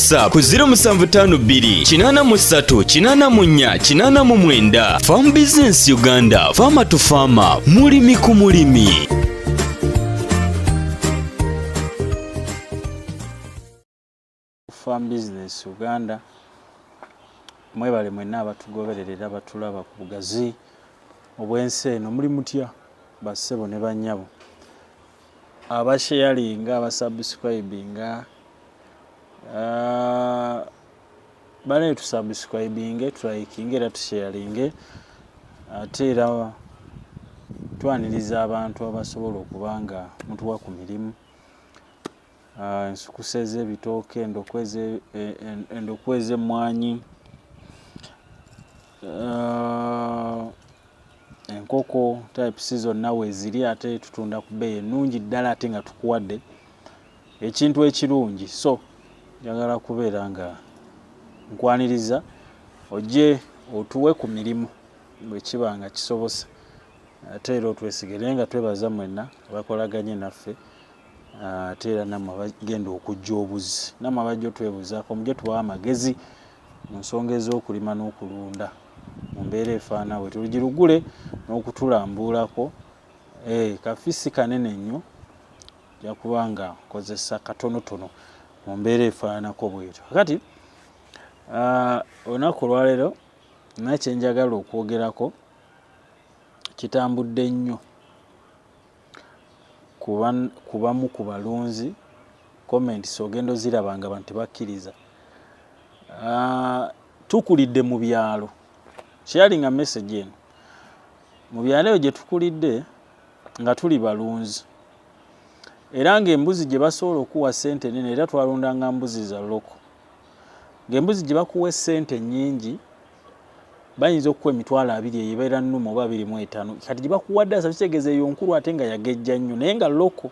whatsapp ku 0752 83 84 89 farm business uganda farmer to farmer mulimi ku mulimi farm business uganda mwebale mwenna abatugobererera batulaba ku bugazi obwensi eno muli mutya bassebo ne bannyabo abasheyalinga abasubscribinga uh, banaye tusubscribinge tulikinge era tusheyalinge ate era twaniriza abantu abasobola okuba nga mutuwa ku mirimu ah, ensukusa ez'ebitooke endokwa ez'emmwanyi e, Uh, enkoko types zonna weziri ate tutunda ku bbeeyi ennungi ddala ate nga tukuwadde ekintu ekirungi so njagala kubeera nga nkwaniriza ojje otuwe ku mirimu bwe kiba nga kisobosa ate era otwesige naye nga twebaza mwenna abakolaganye naffe ate era namwe abagenda okujja obuzi namwe abajja otwebuzaako mujje tubawa amagezi mu nsonga ez'okulima n'okulunda mu mbeera efaana bwe tulugirugule n'okutulambuulako eh, kafisi kanene nnyo ja kuba nga nkozesa katonotono mu mbeera efaananako bwetyo kakati ah, olunaku olwaleero nakyenjagala okwogerako kitambudde nnyo ku bamu ku balunzi comments ogenda oziraba nga abantu tebakkiriza ah, tukulidde mu byalo sharing a message eno mu byalo eyo gye tukulidde nga tuli balunzi era ng'embuzi gye basobola okuwa ssente enene era twalundanga mbuzi za loko ng'embuzi gye bakuwa essente nnyingi bayinza okukuwa emitwalo abiri eyo ebeera nnuma oba abiri mu etaano kati gye bakuwadde asa kitegeeza eyo nkulu ate nga yagejja nnyo naye nga loko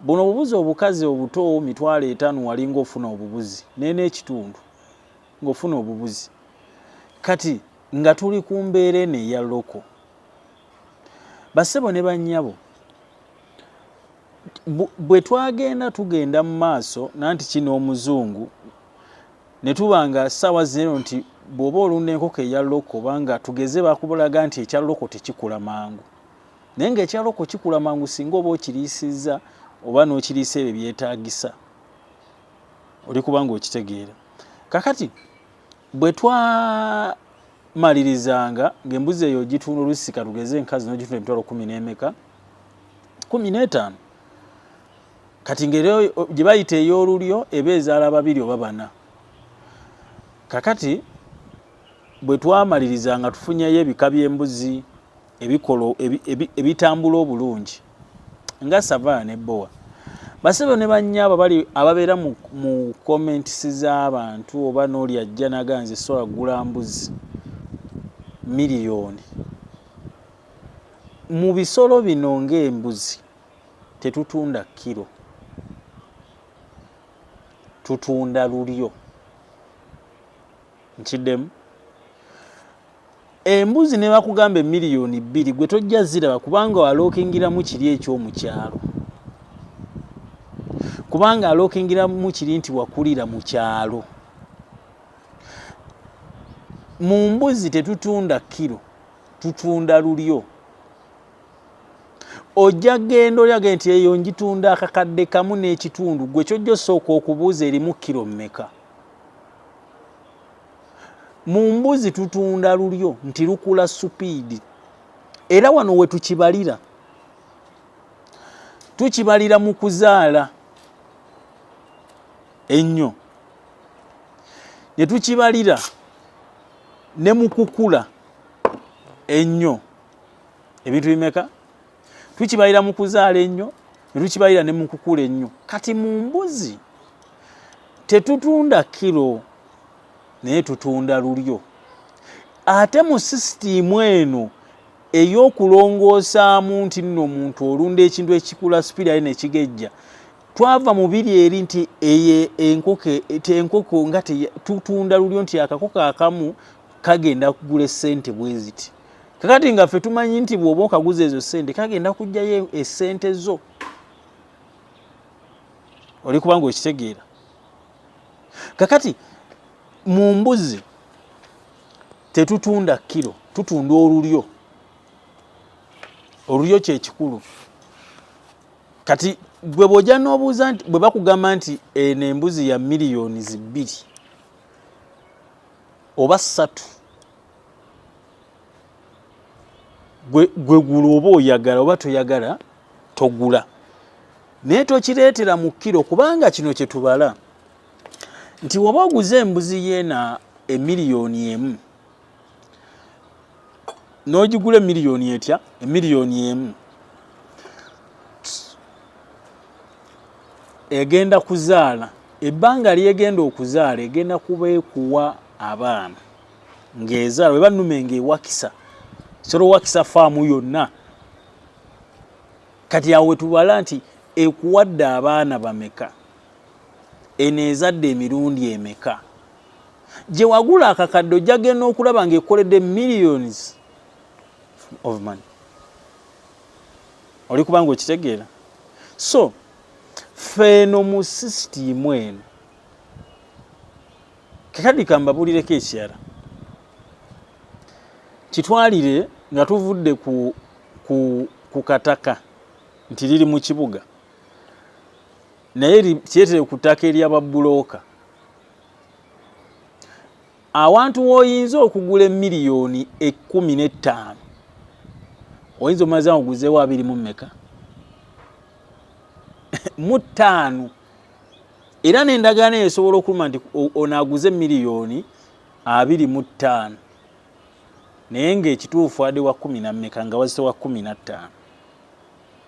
buno obubuzi obukazi obuto mitwalo etaano walinga ofuna obubuzi naye n'ekitundu ng'ofuna obubuzi kati nga tuli ku mbeera eno eya loko bassebo ne bannyabo bwe twagenda tugenda mu maaso nanti kino omuzungu ne tuba nga ssaawa zero nti bw'oba olunda enkoko eya loko obanga tugeze bakubulaga nti ekya loko tekikula mangu naye nga ekya loko kikula mangu singa oba okiriisizza oba n'okiriisa ebyo byetaagisa oli kubanga okitegeera kakati bwe twamalirizanga ng'embuzi eyo ogitunda olusi katugeze enkazi n'ogitunda emitwalo kumi n'emeka kumi n'etaano kati ngeri gye bayita ey'olulyo eba ezaala babiri oba bana kakati bwe twamalirizanga tufunyeyo ebika by'embuzi ebikolo ebitambula obulungi nga savaa ne bowa basebo ne banyabo bali ababeera mu, mu comments z'abantu oba n'oli ajja naga nze so agula mbuzi miliyoni mu bisolo bino ng'embuzi tetutunda kiro tutunda lulyo nkiddemu embuzi ne bakugamba emiliyoni bbiri gwe tojja ziraba kubanga walookingiramu kiri ekyomukyalo kubanga alookingiramu kiri nti wakulira mu kyalo mu mbuzi tetutunda kiro tutunda lulyo ojja genda olyaga nti eyo njitunda akakadde kamu n'ekitundu gwe kyojja osooka okubuuza erimu kiro mmeka mu mbuzi tutunda lulyo nti lukula supiidi era wano we tukibalira tukibalira mu kuzaala ennyo ne tukibalira ne mu kukula ennyo ebintu bimeka tukibalira mu kuzaala ennyo ne tukibalira ne mu kukula ennyo kati mu mbuzi tetutunda kiro naye tutunda lulyo ate mu sisitiimu eno ey'okulongoosaamu nti nno omuntu olunda ekintu ekikula sipiri aye nekigejja twava mu biri eri nti eye enkoko enkoko nga tutunda lulyo nti akakoko akamu kagenda kugula esente bweziti kakati nga ffe tumanyi nti bw'oba okaguza ezo sente kagenda kujjayo esente zo oli kubanga okitegeera kakati mu mbuzi tetutunda kiro tutunda olulyo olulyo kyekikulu kati gwe bwoja nobuuza nti bwe bakugamba nti eno embuzi ya miliyoni zibbiri oba ssatu gwe gula oba oyagala oba toyagala togula naye tokireetera mu kkiro kubanga kino kye tubala nti woba oguze embuzi yeena emiliyoni emu n'ogigula emiliyoni etya emiliyoni emu egenda kuzaala ebbanga lyegenda okuzaala egenda kuba ekuwa abaana ng'ezaala weba nnume ng'ewakisa solo wakisa faamu yonna kati awo wetubala nti ekuwadde abaana bameka eno ezadde emirundi emeka gye wagula akakadde ojjagenda okulaba ng'ekoledde millions of money oli kubanga okitegeera so feeno mu sisitiimu eno kakadi kambabuulireko ekirala kitwalire nga tuvudde ku, ku, ku kataka nti liri mu kibuga naye kyetere ku ttaka eryababulooka awantu woyinza okugula emiliyoni ekumi n'ettaano oyinza omaze awo guzeewo abiri mu mmeka mu ttaano era n'endagaano eyo esobola okuluma nti ono aguze miliyoni abiri mu ttaano naye ng'ekituufu ade wa kumi na mmeka nga wazise wa kumi na ttaano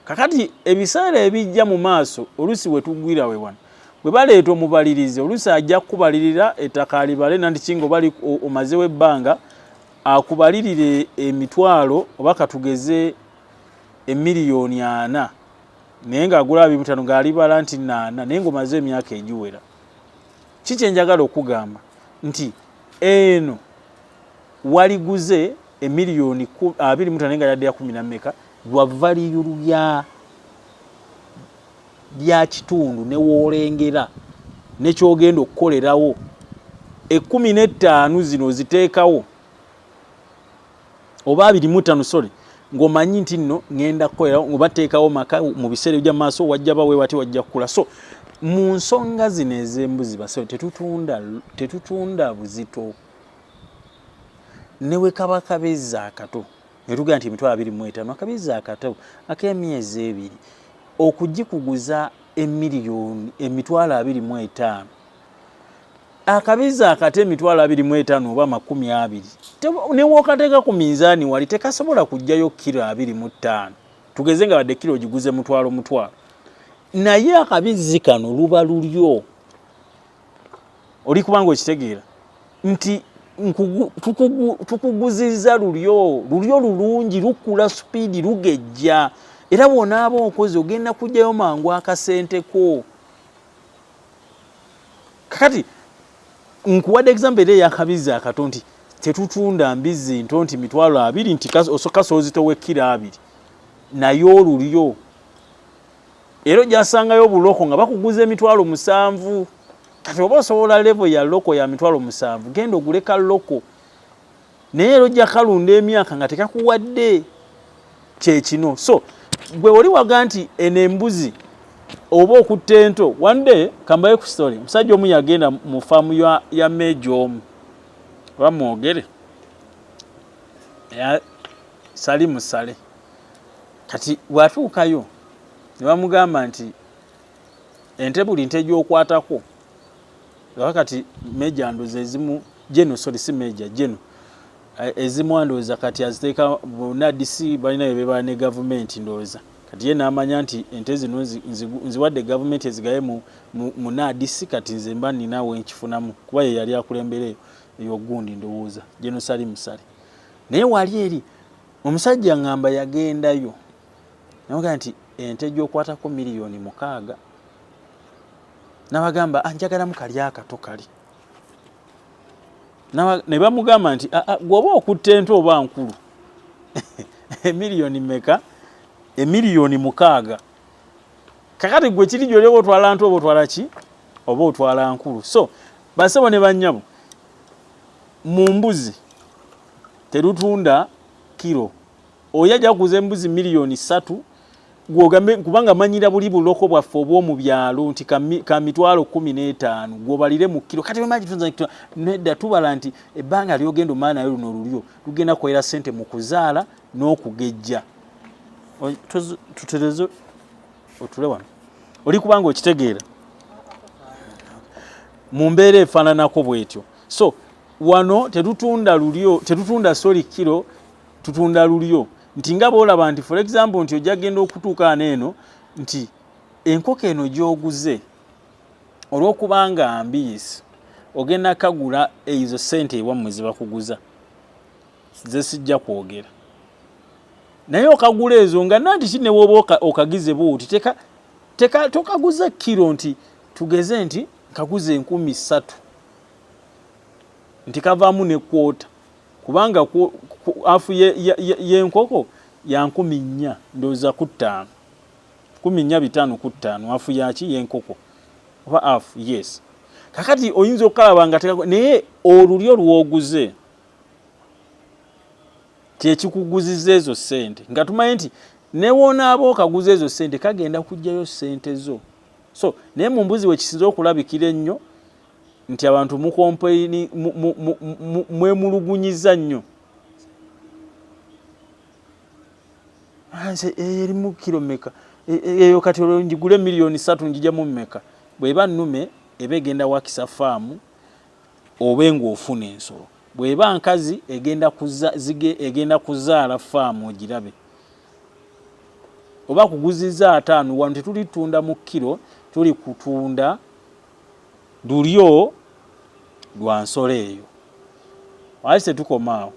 kakati ebiseera ebijja mu maaso oluusi we tugwira we wano bwe baleeta omubalirizi oluusi ajja kukubalirira ettaka alibale nanti kinga oba omazewo ebbanga akubalirire emitwalo oba katugeze emiliyoni ana naye ng'agula abiri butano ng'alibala nti naana naye ng'omaze emyaka egiwera ki kye njagala okugamba nti eno waliguze emiliyoni abiri mutano naye nga yadde ya kumi na mmeka lwa valiyulu ya lya kitundu ne woolengera ne kyogenda okukolerawo ekkumi n'ettaano zino ziteekawo oba abiri mu ttaano sorry ng'omanyi nti nno ŋenda kukolera nga bateekawo maka mu biseera ebya maaso wajja ba wewati wajja kukula so mu nsonga zino ez'embuzi basawo tetutunda tetutunda buzito ne wekaba kabeza akato netugaa nti emitwalo abiri mu etaano akabeza akato ak'emyezi ebiri okugikuguza emiliyoni emitwalo abiri mu etaano akabizi akata emitwalo abiri mu etaano oba amakumi abiri newookateeka ku minzaani wali tekasobola kujjayo kiro abiri mu ttaano tugeze nga badde kiro ogiguze mutwalo mutwalo naye akabizi kano luba lulyo oli kubanga okitegeera nti tukuguziza lulyo lulyo lulungi lukula supiidi lugejja era bwonaaba okozi ogenda kujjayo mangu akasente koo kakati nkuwadde example era eyakabizzi akato nti tetutunda mbizzi nto nti mitwalo abiri nti osoka soozitowa ekkiro abiri naye olulyo era ojasangayo obuloko nga bakuguza emitwalo musanvu kati oba osobola levo ya loko ya mitwalo musanvu genda oguleka loko naye era ojja kalunda emyaka nga tekakuwadde kyekino so gwe oli waga nti eno embuzi oba okutta ento one day kambaye ku story omusajja omu yagenda mu faamu ya, ya meeja omu oba mwogere sali musale kati watuukayo ne bamugamba nti ente buli nte gyokwatako laba kati meja ndoza ezimu jeno sorry si meja jeno eh, ezimu andoza kati aziteeka nadisi balina bebebala ne gavumenti ndoza kati ye namanya nti ente zino nziwadde gavumenti ezigaye mu, mu, mu nadisi kati nze mba nina wenkifunamu kuba ye yali akulembera eyo eyogundi ndowooza jeno sali musale naye wali eri omusajja ngamba yagendayo naga nti ente gyokwatako miliyoni mukaaga nabagamba anjagalamu ah, kali akato kali ne bamugamba nti ah, ah, gwoba okutta ente oba nkulu emiliyoni meka emiliyoni mukaaga kakati gwe kiri gyoli oba otwala nte oba otwala ki oba otwala nkulu so basebo ne banyabo mu mbuzi terutunda kiro oyo ajja kuguza embuzi miliyoni ssatu gwogambe kubanga manyira buli buloko bwaffe obw'omu byalo nti ka mitwalo kkumi n'etaano gwobalire mu kkiro kati nedda tubala nti ebbanga lyogenda omala nayo luno lulyo lugenda kukolera ssente mu kuzaala n'okugejja tutereze otule wano oli kubanga okitegeera mu mbeera efaananako bwetyo so wano tetutunda lulyo tetutunda soli kkiro tutunda lulyo nti nga bwolaba nti for example nti ojja genda okutuuka ano eno nti enkoko eno gyoguze olwokuba nga mbiisi ogenda kagula ezo sente ewammwe zebakuguza zesijja kwogera naye okagula ezo nga nanti ki newooba okagize buuti teka teka tokaguza kiro nti tugeze nti kaguza enkumi ssatu nti kavaamu nekwota kubanga afu yenkoko ye, ye ya nkumi nnya ndowooza ku ttaano kumi nnya bitaano ku ttaano afu yaki yenkoko oba afu yes kakati oyinza okukalaba nga tekako naye olulyo lwoguze kyekikuguziza ezo sente nga tumanyi nti newonaaba okaguza ezo sente kagenda kugjayo sente zo so naye mumbuzi wekisinza okulabikira ennyo nti abantu mukompaini mwemulugunyiza nnyo nze eh, erimu kiro meka eh, eh, eyo kati olwo njigule miliyoni satu njijamu meka bweba nume eba egenda wakisa faamu obe ngaofuna ensolo bweba nkazi egenda kuza, zige, egenda kuzaala faamu ogirabe oba kuguziza ataano wano tetulitunda mu kiro tuli kutunda lulyo lwa nsolo eyo waki tetukomaawo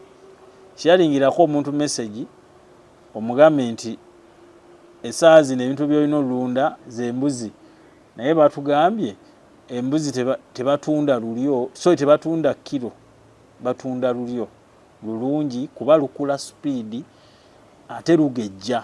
kiyalingirako omuntu mesegi omugambe nti esaa zino ebintu byolina olunda zembuzi naye batugambye embuzi tebatunda lulyo so tebatunda kiro batunda lulyo lulungi kuba lukula supiidi ate lugejja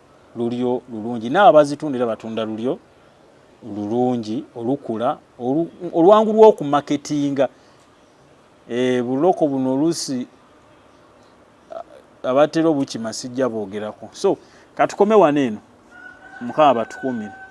lulyo lulungi naabo abazitunda era batunda lulyo lulungi olukula olwangu lw'okumaketinga e, buloko buno oluusi abatera obukima sijja boogerako so katukome wano eno mukama batukuumire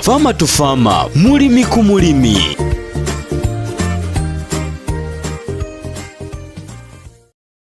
Fama to Fama, mulimi ku mulimi.